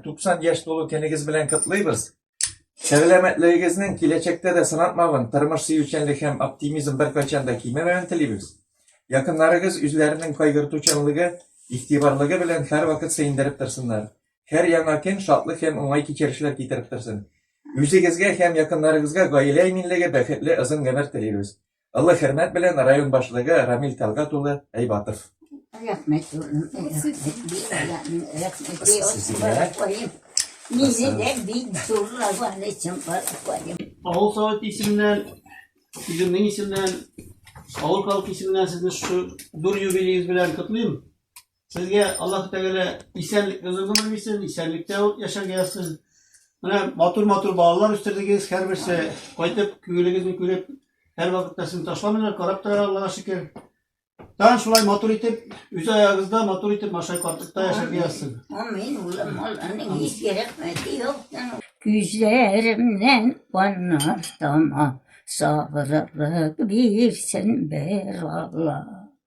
90 яшь тулу кенегез белән котлыйбыз. Сәламәтлегегезнең киләчәктә дә сынатмавын, тормыш сөючәнлек һәм оптимизм беркайчан да кимемәвен телибез. Якыннарыгыз үзләренең кайгыртучанлыгы, игътибарлыгы белән һәрвакыт сөендереп торсыннар. Һәр яңа көн шатлык һәм уңай кичерешләр китереп торсын. Үзегезгә һәм якыннарыгызга гаилә иминлеге, бәхетле озын гомер телибез. Олы хөрмәт белән район башлыгы Рамил Тәлгат улы Әйбатов. Рәхмәт, улым. Рәхмәт, рәхмәт. Мине дә бик зурлаган өчен каракоем. Авыл совет исеменнән, үземнең исемнән, авыл халкы исеменнән сезне шушы зур юбилеегез белән котлыйм. Сезгә Аллаһ Тәгалә исәнлек озын гомер бирсен, исәнлектә яшәргә язсын. Менә матур-матур балалар үстердегез, һәрберсе кайтып, күңелегезне күреп, һәр вакытта сезне ташламыйлар, карап торалар, Аллага шөкер. Тагын шулай матур итеп, үз аягыгызда матур итеп машай картлыкта яшәргә язсын. Амин, улым, Алланың изге рәхмәте юктан. Күзләремнән каннар тама, сабырлык бирсен бер Алла.